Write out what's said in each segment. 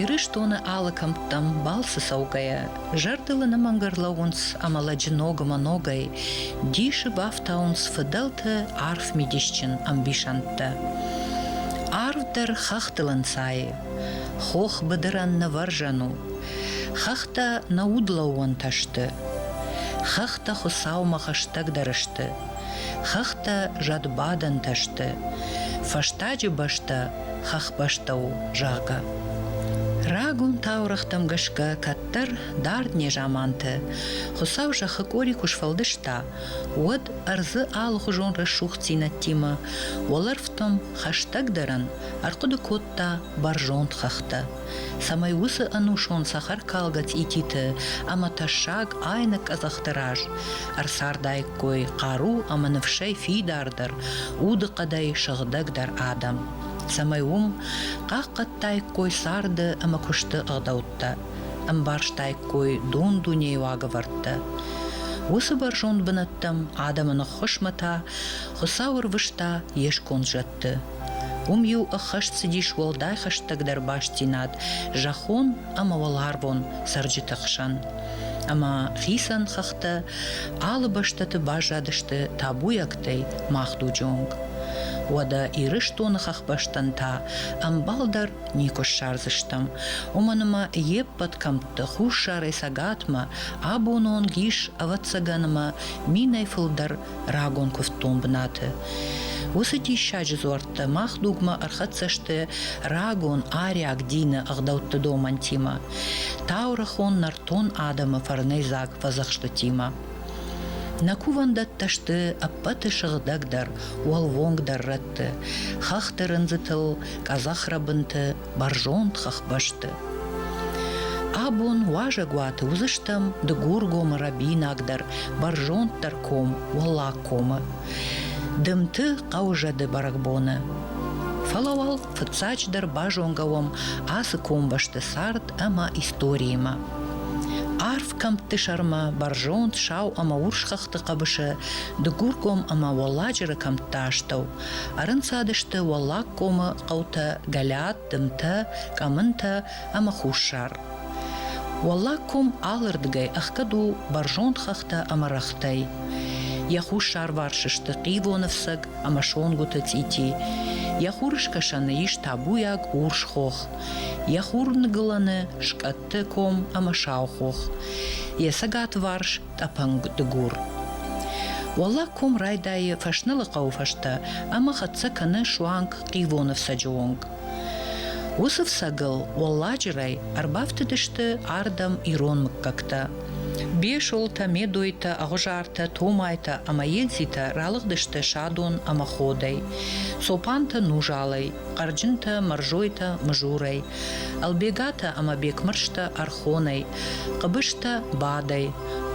Ирыстоны алы кӕмттӕм балцы цӕугӕйӕ, зӕрдыл ӕнӕмӕнгӕ рлӕууынц ӕмӕ лӕджы ногмӕ ногӕй дисы бафтауынц фыдӕлты арф мидисджын ӕмбисӕндтӕ. Арв дӕр хӕхтыл ӕнцайы. Хох быдырӕн нывӕрзӕн у. Хӕхтӕ нӕ удлӕууӕнтӕ сты. Хӕхтӕ Хуыцаумӕ хӕстӕгдӕр сты, Хӕхтӕ зӕдбадӕнтӕ сты. Фӕстаджы бӕстӕ хӕхбӕстӕ у, зӕгъы. Рагон таурӕгътӕм гӕсгӕ кӕддӕр дард незаманты Хуыцау зӕххы къори куы сфӕлдыста, уӕд ӕрдзы алыхуызон рӕсугъддзинӕдтимӕ уӕлӕрвтӕм хӕстӕгдӕрӕн ӕрхъуыды кодта бӕрзонд хӕхтӕ. цӕмӕй уыцы ӕнусон цӕхӕркалгӕ цъититы ӕмӕ тӕссаг айнӕг къӕдзӕхты раз ӕрцардаиккой хъару ӕмӕ ныфсӕй фидардӕр, удыхъӕдӕй сыгъдӕгдӕр адӕм, цӕмӕй уым хъахъхъӕдтаиккой царды ӕмӕ куысты ӕгъдӕуттӕ, ӕмбӕрстаиккой дон-дунейы уагӕвӕрдтӕ. Уыцы бӕрзонд бынӕттӕм адӕмы ныххуысмӕ та Хуыцау ӕрвыста йе сконд зӕдты, Уым-иу ӕххӕст цыдис уӕлдай хӕстӕгдӕр бастдзинад зӕххон ӕмӕ уӕларвон цӕрджыты хсӕн. Ӕмӕ хицӕн хӕхтӕ алы бӕстӕты баззадысты табуйӕгтӕй махдуджы онг. Уӕдӕ Ирыстоны хӕхбӕстӕн та ӕмбал дӕр никуы ссардзыстӕм. Уымӕн ӕмӕ йе ппӕт кӕмтты хуссарӕй цӕгатмӕ абоны онг ис, ӕвӕццӕгӕн, ӕмӕ минӕй фылдӕр рагон куывддон бынаты. Уыцы диссаджы дзуӕрттӕ мах дугмӕ ӕрхӕццӕ сты рагон ариаг дины ӕгъдӕутты домӕнтимӕ, таурӕхон нӕртон адӕмы фӕрнӕйдзаг фӕдзӕхстытимӕ. Нӕ кувӕндӕттӕ сты ӕппӕты сыгъдӕгдӕр, уӕлвонгдӕр рӕтты, хӕхты рындзытыл, къӕдзӕхрӕбынты, бӕрзонд хӕхбӕсты. Абон уазӕгуаты уыдзыстӕм Дыгургомы рӕбинагдӕр, бӕрзонддӕр ком Уӕллаг комы. Дымты хъӕуы зӕды бӕрӕгбоны. Фӕлӕ уал фыццаджыдӕр базонгӕ уӕм ацы комбӕсты цард ӕмӕ историимӕ. Арф кӕмтты сӕрмӕ бӕрзонд сау ӕмӕ урс хӕхты хъӕбысы Дыгургом ӕмӕ Уӕлладжыры кӕмтты астӕу Ӕрынцадысты Уӕллагкомы хъӕутӕ Гӕлӕт, Дымтӕ, Къӕмынтӕ ӕмӕ Хуссар. Уӕллагком алырдыгӕй ӕхгӕд у бӕрзонд хӕхтӕ ӕмӕ рӕгътӕй. Йӕ хуссарварс сты Хъивоны фцӕг ӕмӕ Сонгуыты цъити. Йӕ хурыскӕсӕны ис табуйаг урс хох. Йӕ хурныгылӕны скъӕтты ком ӕмӕ сау хох. Йӕ цӕгатварс тъӕпӕнг дыгур. Уӕллаг ком райдайы Фӕснылы хъӕуы фӕстӕ ӕмӕ хӕццӕ кӕны суанг Хъивоны фцӕджы онг. Уыцы фцӕгыл уӕлладжырӕй ӕрбафтыдысты ардӕм ирон мыггӕгтӕ. Бесолтӕ, Медойтӕ, Ӕгъуызартӕ, Томайтӕ ӕмӕ Егзитӕ ралыгъдысты садон ӕмӕ ходӕй. Цопантӕ нужалӕй, Хъӕрджынтӕ, Мӕрзойтӕ, Мызурӕй, Ӕлбегатӕ ӕма Бекмӕрзтӕ ӕрхонӕй, хъӕбестӕ бадӕй,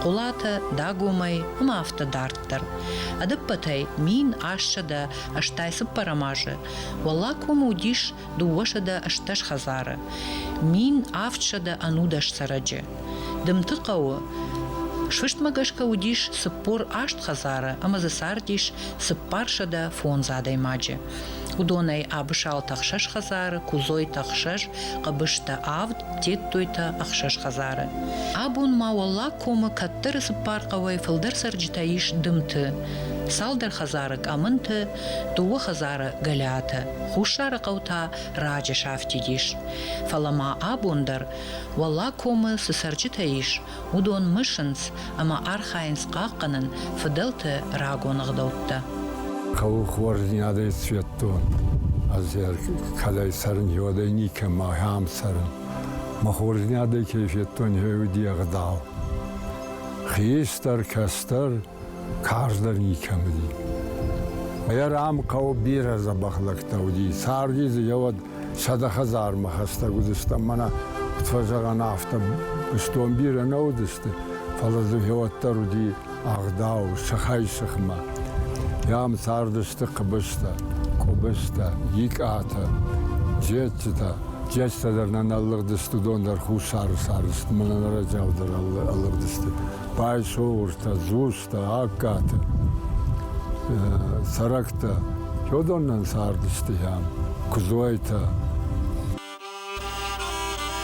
Хъулатӕ Дагомӕй ӕма афтӕ дарддӕр. Ӕдӕппӕтӕй мин ассӕдӕ ӕстай цыппӕрӕм азы Уӕллаг комы уыдис дыууӕсӕдӕ ӕстдӕс хӕдзары, мин авдсӕдӕ ӕнудӕс цӕрӕджы. Дымты хъӕуы сфыстмӕ гӕсгӕ уыдис цыппор аст хӕдзары ӕмӕ дзы цардис цыппарсӕдӕ фондз адӕймаджы. уыдонӕй Абысалты ӕхсӕз хӕдзары, Кузойты ӕхсӕз, Хъӕбыстӕ авд, Тедтойты ӕхсӕз хӕдзары. Абон ма Уӕллаг комы кӕддӕры цыппар хъӕуӕй фылдӕр цӕрджытӕ ис дымты, цалдӕр хӕдзары къӕмынты, дыууӕ хӕдзары Гӕлиаты. Хуссары хъӕу та раджы сафтид ис. Фӕлӕ ма абон дӕр Уӕллаг комы цы цӕрджытӕ ис, уыдон мысынц ӕмӕ архайынц хъахъхъӕнын фыдӕлты рагон ӕгъдӕуттӕ. Хъӕуы хорздзинадӕй сфӕдтон. Ӕз кӕдӕй цӕрын, уӕдӕй никӕмӕ ахӕм цӕрын. Мӕ хорздзинадӕй кӕй федтон, уый уыди ӕгъдау. Хистӕр, кӕстӕр карз дӕр никӕм уыди. Йӕ рам хъӕуы бирӕ дзӕбӕх лӕгтӕ уыди. Царди дзы йӕ уӕд сӕдӕ хӕдзармӕ хӕстӕг уыдыстӕм. Мӕнӕ куыд фӕзӕгъӕн, афтӕ быстон бирӕ нӕ уыдысты, фӕлӕ дзы гьеуӕд дӕр уыди ӕгъдау, сыхӕй-сыхмӕ. Йӕм цардысты хъыбызтӕ, къуыбызтӕ, икъатӕ, джетджытӕ. Джетджытӕ дӕр нӕ нӕ лыгъдысты, уыдон дӕр хуссары цардысты, мӕнӕ ныр ӕджӕл дӕр ӕлыгъдысты. Байсовуртӕ, Дзустӕ, Агкаты цӕрӕгтӕ чодоннан цардысты йӕм, Куыдзуайтӕ.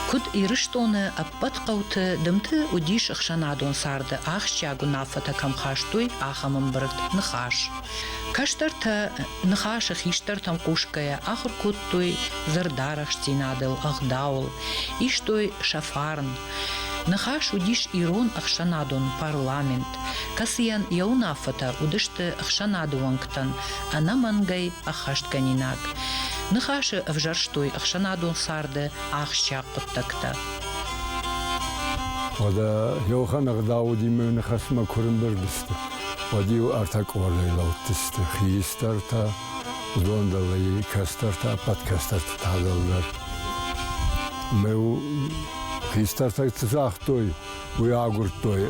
Куыд Ирыстоны ӕппӕт хъӕуты дымты уыдис ӕхсӕнадон царды ахсджиаг уынаффӕтӕ кӕм хастой, ахӕм ӕмбырд Ныхас. Кӕстӕртӕ Ныхасы хистӕртӕм хъусгӕйӕ ахуыр кодтой дзырдарӕхстдзинадыл, ӕгъдауыл, истой сӕ фарн, Ныхас уыдис ирон ӕхсӕнадон парламент, кӕцыйӕн йӕ уынаффӕтӕ уыдысты ӕхсӕнады уӕнгтӕн ӕнӕмӕнгӕй ӕххӕстгӕнинаг. Ныхасы ӕвзӕрстой ӕхсӕнадон царды ахсджиаг хъуыддӕгтӕ. Уӕдӕ Иохан ӕгъдауудимӕ ныхасмӕ куы рымбырд сты, уӕд-иу ӕртӕ къордӕй лӕудтысты, хистӕртӕ, Уыдон дӕр ӕй кӕстӕртӕ, ӕппӕт кӕстӕрты тагъдыл дӕр. Мӕ хистӕртӕ цы загътой, уый агуырдтой,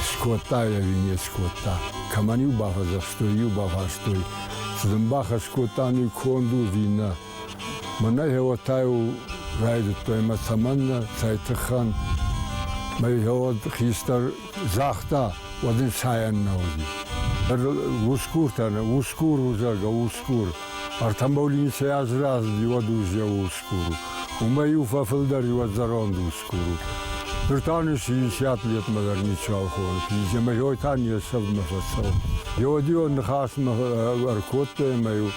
скодта йӕ венец скодта. Кӕмӕн-иу бафӕдзӕхстой, иу бафарстой, цы дын бахӕс кодта, ну конд у ви нӕ. Мӕнӕ геотӕ-иу райдыдтой мӕ цӕмӕннӕ, цӕй тыххӕн. Мӕ геод хистӕр Загъта, уӕд ын сайӕн нӕ уыди. Усгуртӕ, усгур у, зӕгъгӕ, усгур. Артамболиницӕй азраздзи, уӕд уззеу усгур у. Уымӕ-иу фӕфылдӕр и уӕд зӕронд усгур у. Ныр та нын синици атлетмӕ дӕр ничуал хоны, пиземӕйой та не сӕвмӕ фӕцӕуы. Йеодион ныхасмӕ ӕркодтой ӕмӕ-иу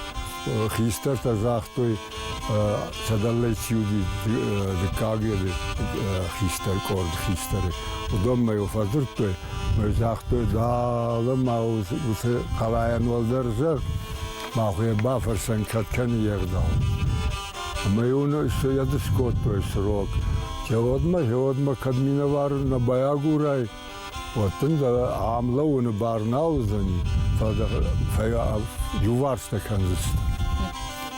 хистӕртӕ загътой, сӕдӕллӕй чи уыди дыккаг еды хистӕр къорд хистӕры, уыдонмӕ йыл фӕдзырдтой, мӕ загътой, дӕлӕ ма уыцы хъалайӕн уӕлдӕр зӕр, махуе бафӕрсӕн кӕд кӕны йе гъдау. Ӕмӕ йын все йӕ дыскодтой срок. Зӕгъӕд-ма, зӕгъӕд-ма, кӕд минӕвар нӕ байагурай, уӕд дын дӕ ам лӕууыны бар нал уыдзӕни, фӕлӕ иуварсытӕ кӕндзысты.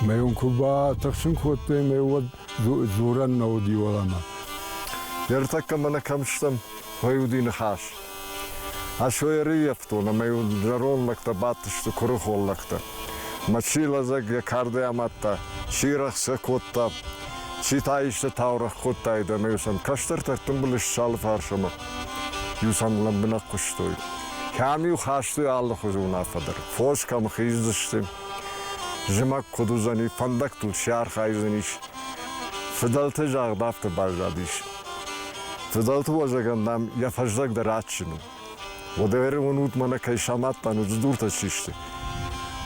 Мӕ уын куы батыхсын кодтой, мӕ уӕд дзурӕн нӕ уыди уӕлӕмӕ. Ертӕккӕ мӕнӕ кӕм стӕм, уый уыди ныхас. Асойы ӕрыййӕфтон, ӕмӕ йын зӕронд лӕгтӕ бадтысты куырыхон лӕгтӕ. Мӕ чи лӕдзӕг йӕ кардӕй амадта, чи рӕхсӕ кодта, Чи та исты таурӕгъ кодтаид ӕмӕ сӕм кӕстӕртӕ ӕртымбыл ссалы фарсмӕ иу-сӕм лӕмбынӕг хъуыстой. Кӕм-иу хастой алыхуызы уынаффӕ дӕр. Фос кӕм хиздзысты, зымӕг куыд уыдзӕни, фӕндӕгтыл чи архайдзӕнис. Фыдӕлты загъд афтӕ баззадис. Фыдӕлты уазӕгӕн нӕм йӕ фӕздӕг дӕр адджын у. Уӕдӕ уынут мӕнӕ кӕй самадтан, удзыдуртӕ чи сты.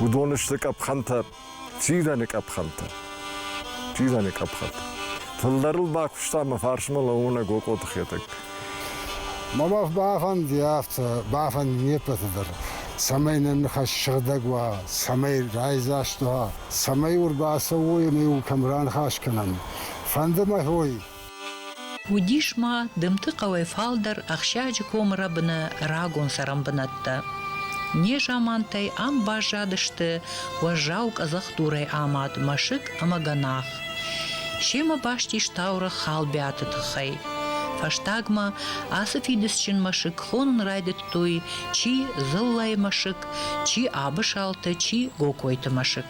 Уыдон сты къӕпхӕнтӕ, Тирӕны къӕпхӕнтӕ. Тирӕны къӕпхӕнтӕ. Фылдӕрыл бакуыста мӕ фарсмӕ лӕууынӕг Окъоты Хетӕг. Мӕ бӕх бафӕнди афтӕ, бафӕнди не ппӕты дӕр, цӕмӕй нӕ ныхас сыгъдӕг уа, цӕмӕй райдзаст уа, цӕмӕй уыр бацӕуой ӕмӕ иу кӕм раныхас кӕнӕм. Фӕнды мӕ уой, Уыдис ма Дымты хъӕуӕй фалдӕр Ӕхсӕджы комы рӕбыны рагон цӕрӕнбынӕттӕ. Незамантӕй ам баззадысты уӕззау къӕдзӕхдурӕй амад мӕсыг ӕмӕ гӕнах. Семӕ баст ис таурӕгъ Халбиаты тыххӕй. Фӕстагмӕ ацы фидыцджын мӕсыг хонын райдыдтой чи дзыллӕйы мӕсыг, чи абысалты, чи гокойты мӕсыг.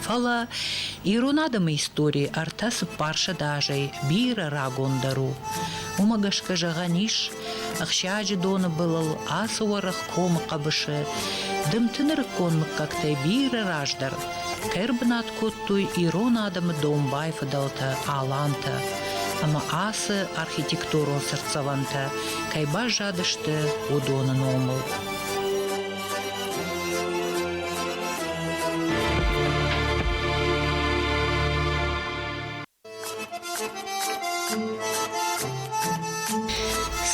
Фӕлӕ ирон адӕмы истори ӕртӕ цыппарсӕд азӕй бирӕ рагондӕр у. Уымӕ гӕсгӕ зӕгъӕн ис, ӕхсиаджы доны былыл ацы уӕрӕх комы хъӕбысы дымты нырыккон мыггӕгтӕй бирӕ раздӕр ӕрбынат кодтой ирон адӕмы домбай фыдӕлтӕ, алантӕ. Ӕмӕ ацы архитектурон цыртдзӕвӕнтӕ кӕй баззадысты, уыдоны номыл.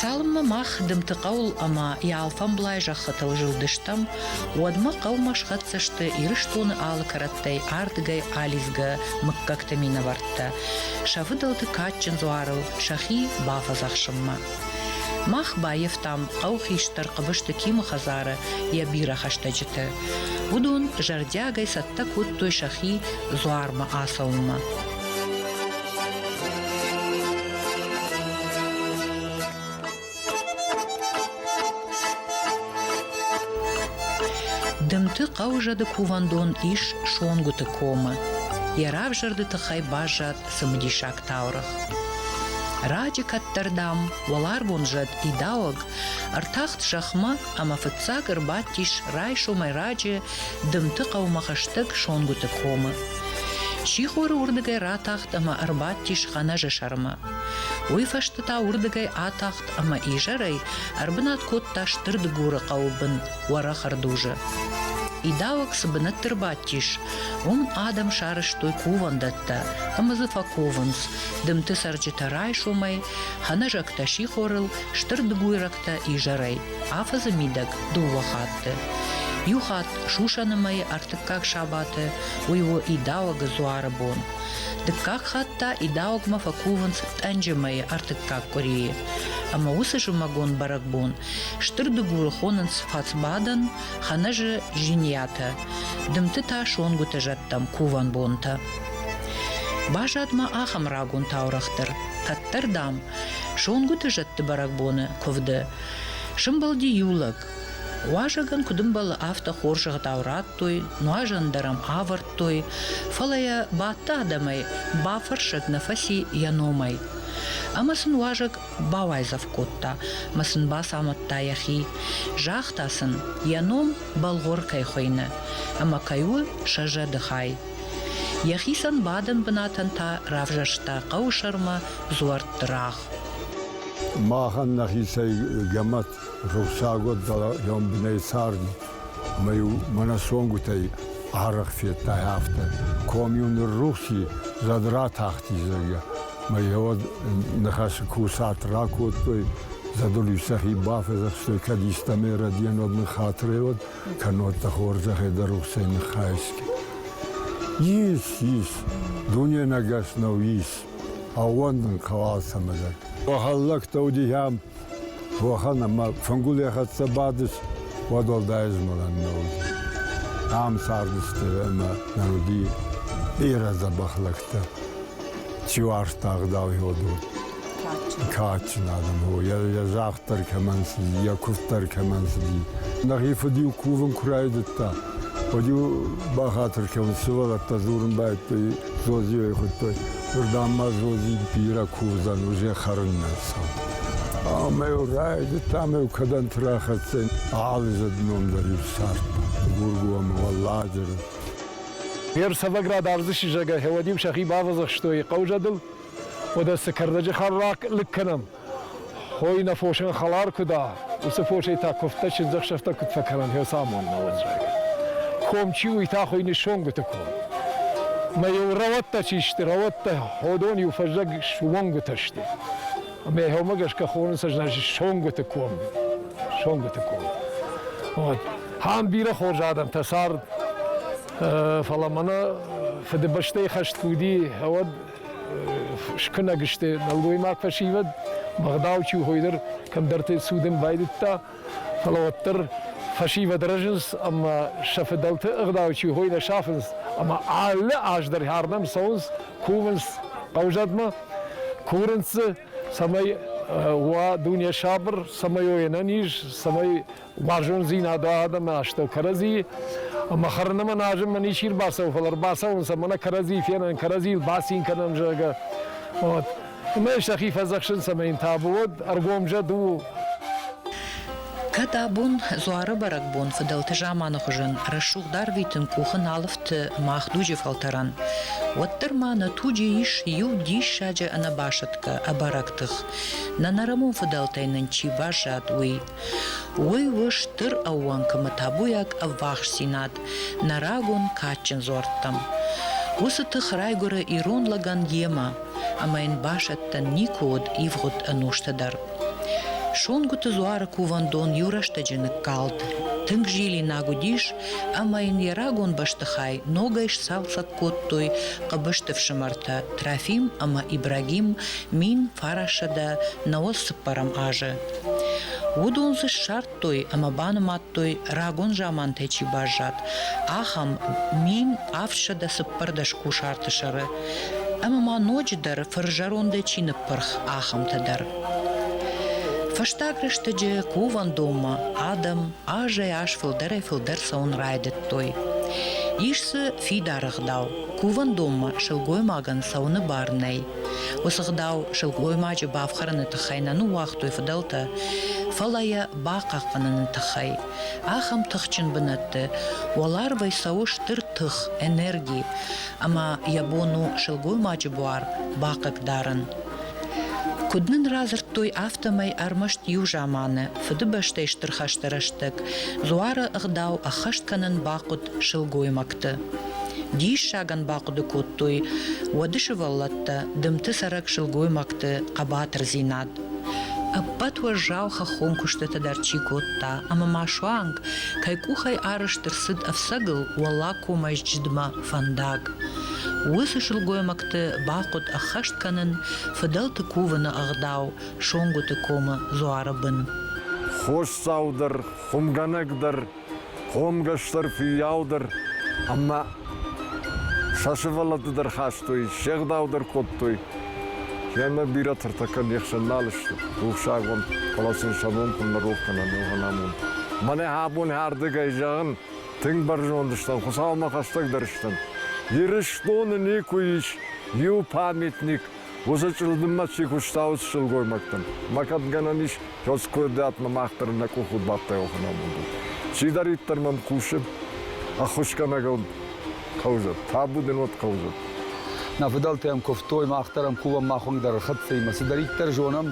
Цалынмӕ мах дымты хъӕуыл ӕмӕ йӕ алфӕмблай зӕххытыл зылдыстӕм, уӕдмӕ хъӕумӕ схӕццӕ сты Ирыстоны алы кӕрӕттӕй ардыгӕй алидзгӕ мыггӕгты минӕвӕрттӕ, сӕ фыдӕлты кадджын дзуарыл сӕхи бафӕдзӕхсынмӕ. Мах баивтам хъӕу хистӕр Хъыбызты Кимы хӕдзары йӕ бирӕ хӕстӕджыты. Уыдон зӕрдиагӕй цӕттӕ кодтой сӕхи дзуармӕ ацӕуынмӕ. Дымты хъӕу зӕды кувӕндон ис Сонгуыты комы. Йӕ равзӕрды тыххӕй баззад цымыдисаг таурӕгъ. Раджы кӕддӕрдӕм уӕларвон зӕд идауӕг ӕртахт зӕхмӕ ӕмӕ фыццаг ӕрбадтис райсомӕй раджы Дымты хъӕумӕ хӕстӕг Сонгуыты комы. Сихоры уырдыгӕй ратахт ӕмӕ ӕрбадтис Хӕнӕжы сӕрмӕ. Уый фӕстӕ та уырдыгӕй атахт ӕмӕ изӕрӕй ӕрбынат кодта Стыр Дыгуры хъӕуы бын уӕрӕх ӕрдузы. Идауӕг цы бынӕтты рбадтис, уым адӕм сарӕзтой кувӕндӕттӕ ӕмӕ дзы фӕковынц. Дымты цӕрджытӕ райсомӕй, хӕнӕзӕгтӕ сихорыл, стыр дыгуйрӕгтӕ изӕрӕй, афӕдзы мидӕг дыууӕ хатты. Иу хатт сусӕны мӕйы ӕртыккаг сабаты уый у идауӕгы дзуары бон. Дыккаг хатт та идауӕгмӕ фӕкувынц тъӕнджы мӕйы ӕртыккаг къуырийы. Ӕмӕ уыцы зымӕгон бӕрӕгбон Стыр дыгуры хонынц фӕцбадӕн, хӕнӕзы жиниатӕ, дымты та сонгуыты зӕдтӕм кувӕн бонтӕ. Баззад-ма ахӕм рагон таурӕгъ дӕр, кӕддӕр, дам, сонгуыты зӕдты бӕрӕгбоны куывды сымбылди иу лӕг. Уазӕгӕн куыд ӕмбӕлы, афтӕ хорзӕхтау радтой, нуазӕн дӕр ӕм авӕрдтой, фӕлӕ йӕ бадты адӕмӕй бафӕрсӕг нӕ фӕци йӕ номӕй. Ӕмӕ сын уазӕг бауайдзӕф кодта мӕ сын бацамыдта йӕхи. Загъта сын, йӕ ном Бӕлгъуыр кӕй хуыйны ӕмӕ кӕй у сӕ зӕды хай. Йӕхицӕн бадӕн бынатӕн та равзӕрста хъӕуысӕрмӕ дзуӕртты рагъ. Махӕн нӕхицӕй гӕмӕт рухсагуат дӕр лӕмбынӕй царди мӕ-иу мӕнӕ цонгуытӕй арӕх федтай, афтӕ ком-иу ныррухс и, зӕд ратахти, зӕгъгӕ, Мӕ йеуӕд ныхасы курсат ракодтой, зӕдыл-иу сӕхи бафӕдзӕхстой, кӕд истӕмӕй рӕдийӕнуӕд ныххатыреуӕд, кӕннод дӕ хорзӕхӕй дӕ рухсӕй ныххайсгӕ. Ис, ис, дуненӕгас нӕу, ис, ӕууӕндын хъӕуы алцӕмӕ дӕр. Бахӕллӕгтӕ уыди йӕм уӕхӕн ӕма фӕнгулей хӕццӕ бадис, уӕд уӕлдай ӕзмӕлӕн нӕ уыд. Ам цардысты ӕма нӕ уыди бирӕ дзӕбӕх лӕгтӕ. Чи уарзта ӕгъдауйод уыд. Кадджын адӕм у, йӕ загъд дӕр кӕмӕн цыди, йӕ куывд дӕр кӕмӕн цыди. Нӕхи фыд-иу кувын куы райдыдта, уӕд-иу бахатыр кӕуын, сывӕллӕттӕ дзурын байдыдтой, Зозийӕй хуыдтой, уырдӕм ма Зози бирӕ курдзӕн уызӕ хӕрыннӕ цау. Ӕмӕ йыл райдыдта ӕмӕ йыл кӕдӕнты рахӕццӕ алызӕд ном дӕр иу цард. Гургомы Уӕлладжыры. Йе рцӕвӕград ӕрдзы сызӕгӕй гьӕуӕд-иу сӕхи бавӕдзӕхстой хъӕузӕдыл, уӕдӕ цы кӕрдӕджы хӕррахъ лыг кӕнӕм. Хой нӕ фосӕн хӕлар куы дӕ, уыцы фосӕй та куывдтӕ чындзӕхсӕвтӕ куыд фӕкӕнӕн, фӕцамонна уын, зӕгъы. Ком чи уый та хуыйны Сонгуыты ком. Мӕ-иу рӕуӕттӕ чи сты, рӕуӕттӕ ходон-иу фӕззӕг суонгуытӕ сты. Ӕмӕ йӕхиумӕ гӕсгӕ хонынц, значит, Сонгуыты ком. Сонгуыты ком. Вот. Ам бирӕ хорз адӕмтӕ цард, фӕлӕ мӕнӕ Фыдыбӕстӕйы хӕст куы уыди, уӕд скӕнӕг сты нӕлгоймаг фӕсивӕд, бӕгъдау чи хойдӕр кӕмдӕрты цудын байдыдта, фӕлӕ уӕддӕр фӕсивӕд рӕзынц ӕмӕ сӕ фыдӕлты ӕгъдау чи хой нӕ сафынц ӕмӕ алы аз дӕр хӕрдӕм цӕуынц, кувынц хъӕузӕдмӕ, курынц дзы, цӕмӕй уа дуне сабыр, цӕмӕй уой ӕнӕниз, цӕмӕй Бӕрзонддзийнадӕ адӕмӕ астӕу кӕрӕдзи, ӕма хӕрунӕмӕ назунмӕ ничи рбацӕуй, фал ӕрбацӕунцӕ, мӕнӕ кӕрӕдзи фенӕн, кӕрӕдзи бацин кӕнӕн, зӕгъгӕ. Ӕма сӕхи фӕдзӕхсунцӕ мин табу, уӕд ӕргомзӕд у. Кӕд абон, дзуары бӕрӕгбон фыдӕлты заманы хуызӕн, рӕсугъд арвитын къухы нал ӕфты мах дуджы фӕлтӕрӕн, уӕддӕр ма нӕ туджы ис иу диссаджы ӕнӕбасӕтгӕ ӕбӕрӕг тых, нӕ нӕрӕмон фыдӕлтӕй нын чи баззад, уый. Уый у стыр ӕууӕнкымы табуйаг ӕввахсдзинад нӕ рагон кадджын дзуӕрттӕм. Уыцы тых райгуыры ирон лӕгӕн йемӕ, ӕмӕ йын басӕттӕн никуы уыд ивгъуыд ӕнусты дӕр. Сонгуыты дзуары кувӕндон иу рӕстӕджы ныккалд, тынг зилинаг уыдис, ӕмӕ йын йӕ рагон бӕстыхай ногӕй сцалцӕг кодтой Хъыбысты фсымӕртӕ Трофим ӕмӕ Ибрагим, мин фарӕссӕдӕ нӕуӕдз цыппӕрӕм азы. Уыдон дзы ссардтой ӕмӕ банымадтой, рагон замантӕй чи баззад, ахӕм мин ӕфсӕдӕ цыппӕрдӕс кусарты сӕры, ӕмӕ ма ноджыдӕр фырзӕрондӕй чи ныппырх, ахӕмтӕ дӕр. Фӕстаг рӕстӕджы кувӕндонмӕ адӕм азӕй-аз фылдӕрӕй-фылдӕр цӕуын райдыдтой. Ис дзы фидар ӕгъдау, кувӕндонмӕ сылгоймагӕн цӕуыны бар нӕй. Уыцы гъдау сылгоймаджы бафхӕрыны тыххӕй нӕ ныууагътой фыдӕлтӕ, фӕлӕ йӕ бахъахъхъӕныны тыххӕй. Ахӕм тыхджын бынӕтты уӕларвӕй цӕуы стыр тых, энерги, ӕмӕ йӕ бон у сылгоймаджы буар бахъыгдарын. Куыд нын радзырдтой, афтӕмӕй ӕрмӕст иу заманы Фыдыбӕстӕйы Стыр хӕсты рӕстӕг дзуары ӕгъдау ӕххӕст кӕнын бахъуыд сылгоймӕгтӕ. Диссагӕн бахъуыды кодтой уӕды сывӕллӕттӕ дымты цӕрӕг сылгоймӕгты хъӕбатырдзинад. Ӕппӕт уӕззау хӕххон куыстытӕ дӕр чи кодта, ӕмӕ ма суанг, кӕй къухӕй арызт ӕрцыд ӕфцӕгыл уӕллагкомӕйсджыдмӕ фӕндаг. Уыцы сылгоймӕгты бахъуыд ӕххӕст кӕнын фыдӕлты кувыны ӕгъдау Сонгуыты комы дзуары бын. Хосдзау дӕр, хуымгӕнӕг дӕр Хъомгӕстӕр фыййау дӕр ӕмӕ сӕ сывӕллӕтты дӕр хастой, се гъдау дӕр кодтой. Кенӕ бирӕтӕ кӕд не хсӕн нал сты, рухсаг уӕм, фӕлӕ сын сӕ ном куыд нӕ рох кӕнӕм, уымӕн амон. Мӕнӕ абон ардыгӕй зӕгъын, тынг бӕрзонд стӕм, Хуыцаумӕ хӕстӕгдӕр стӕм. Ирыстоны никуы ис иу памятник, Уыцы чъылдыммӕ чи куыстӕуыд сылгоймӕгтӕм, мӕ кӕд гӕнӕн ис кӕцкуырдиатмӕ мах дӕр нӕ къухыл бадтайо хынамонды. Чидӕриддӕр мӕм хъусы, ӕххуысгӕнӕгыл хъӕудзӕн, табу дын уӕд хъӕудзӕн. Нӕ фыдӕлтӕ йӕм куывтой, мах дӕр ӕм кувӕм, мах уынг дӕр ӕрхӕццӕимӕ. Цыдӕриддӕр зонӕм,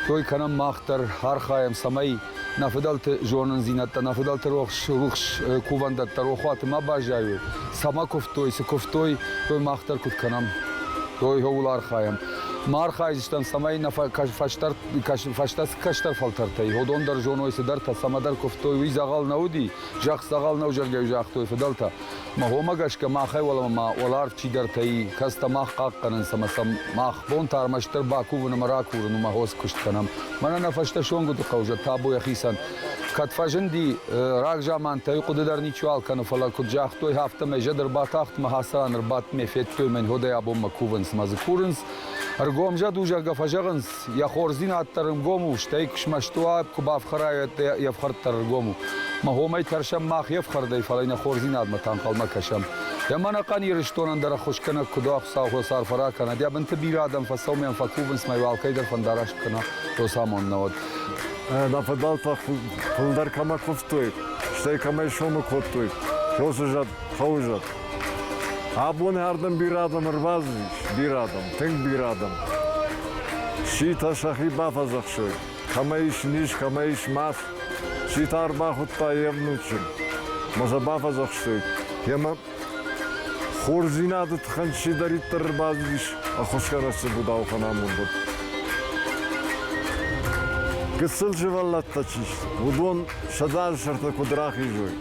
той кӕнӕм мах дӕр, архайӕм, цӕмӕй Нӕ фыдӕлты зонындзинӕдтӕ, нӕ фыдӕлты рухс, рухс кувӕндӕттӕ рохуаты ма баззайой. Цӕмӕ куывтой, цы куывтой, уый мах дӕр куыд кӕнӕм, уый ууыл архайӕм. Ма архайдзыстӕм, цӕмӕй нӕ фӕстӕ кӕстӕр фӕлтӕртӕй уыдон дӕр зоной цыдӕртӕ, цӕмӕдӕр куывтой, уый дзӕгъӕл нӕ уыди, зӕхх дзӕгъӕл нӕу зӕгъгӕ загътой фыдӕлтӕ. Мӕ гъомӕ гӕсгӕ махӕй уӕлӕмӕ ма уӕларв чидӕртӕй кӕцтӕ мах хъахъхъӕнынц ӕмӕ сӕм мах бон та ӕрмӕстдӕр бакувын ӕмӕ ракурын у мӕ хос куыст кӕнӕм. Мӕнӕ нӕ фӕстӕ Сонгуыды хъӕузӕд табу йӕхицӕн. Кӕд фӕзынди рагзамантӕй, хъуыды дӕр ничуал кӕны, фӕлӕ куыд загътой, афтӕмӕй зӕд ӕрбатахт мӕ хӕцӕн, ӕрбадт, ме федтой, мӕн ходӕй абонмӕ кувынц мӕ дзы курынц. Ӕргомзӕд у, зӕгъгӕ, фӕзӕгъынц, Йӕ хорздзинад дӕр ӕнгом у, стӕй куы смӕсты уа, куы бафхӕра, уӕд йе фхӕрд дӕр ӕнгом у. Мӕ хомӕй тӕрсӕм мах йе фхӕрдӕй, фӕлӕ нӕ хорздзинадмӕ танхъӕлмӕ кӕсӕм. Йӕ мӕнӕхъӕн Ирыстонӕн дӕр ӕххуысгӕнӕг куыд у, Хуыцау ӕрфӕ ракӕна. Кӕнӕд йӕ бынты бирӕ адӕм фӕцӕуынӕн фӕкувынц мӕ йыл алкӕй дӕр фӕндараст кӕна, росамонд науӕд. Нӕ фӕдбӕл тох фулдӕр кӕмӕ кувтой, стӕй кӕмӕй сому кодтой, уоцы зӕд, хъӕуы зӕд. Абони ардӕм бирӕ адӕм ӕрбацыдис, бирӕ адӕм, тынг бирӕ адӕм. Ситӕ сӕхи бафӕдзӕхсой, кӕмӕ ис низ, кӕмӕ ис мах. Ситӕ ӕрбахуыдта йе внучын. Ма сӕ бафӕдзӕхстой, йемӕ хорздзинады тыххӕн чидӕриддӕр ӕрбацыдис ӕххуысгӕнӕджы будауыхъӕн амондыл. Гыццыл сывӕллӕттӕ чи сты, уыдон сӕдзӕн сӕртӕ куд рахизуй,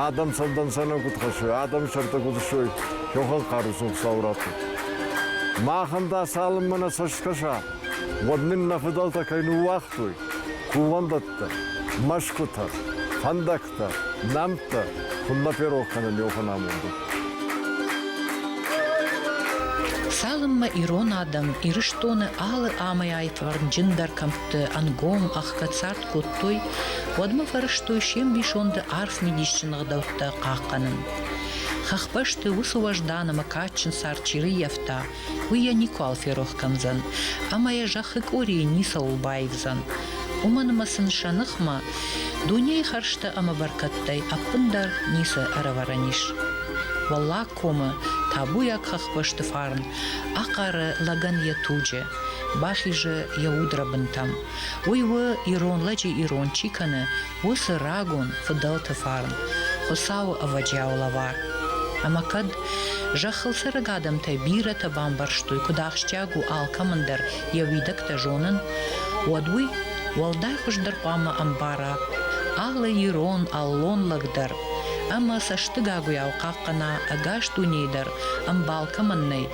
адӕм цӕвдӕнцӕнӕн куд хӕссуй, адӕми сӕртӕ куд ссуй, кӕхуӕн хъарусон Хуцау раттуй. Махӕн дӕ цалынмӕ нӕ цӕст кӕса, уӕд нин нӕ фыдӕлтӕ кӕй ныууагътой, кувӕндӕттӕ, мӕсгутӕ, фӕндӕгтӕ, нӕмттӕ, куд нӕ ферох кӕнӕн еуфӕн амондыл. Цалынмӕ ирон адӕм Ирыстоны алы амӕй-аитварнджындӕр кӕмтты ӕнгом ӕхгӕд цард кодтой, уӕдмӕ фӕрӕзтой се мбисонды арф мидисджын ӕгъдӕуттӕ хъахъхъӕнын. Хӕхбӕсты уыцы уӕздан ӕмӕ кадджын цард чи рыййӕфта, уый йӕ никуал ферох кӕндзӕн, ӕмӕ йӕ зӕххы къорийы ницӕуыл баивдзӕн. Уымӕн ӕмӕ сын сӕ ныхмӕ дунейы хӕрзтӕ ӕмӕ бӕркӕдтӕй ӕппындӕр ницы ӕрӕвӕрӕн ис. Уӕллаг комы табуйаг хӕхбӕсты фарн ахъары лӕгӕн йӕ туджы, бахизы йӕ удрӕбынтӕм. Уый у, ирон лӕджы ирон чи кӕны, уыцы рагон фыдӕлты фарн, Хуыцауы ӕвӕджиау лӕвар. Ӕмӕ кӕд зӕххыл цӕрӕг адӕмтӕ бирӕтӕ бамбӕрстой, куыд ахсджиаг у алкӕмӕн дӕр йӕ уидӕгтӕ зонын, уӕд уый уӕлдай хуыздӕр хъуамӕ ӕмбара алы ирон, аллон лӕг дӕр ӕмӕ цӕстыгагуыйау хъахъхъӕна ӕгас дунейы дӕр, ӕмбал кӕмӕн нӕй,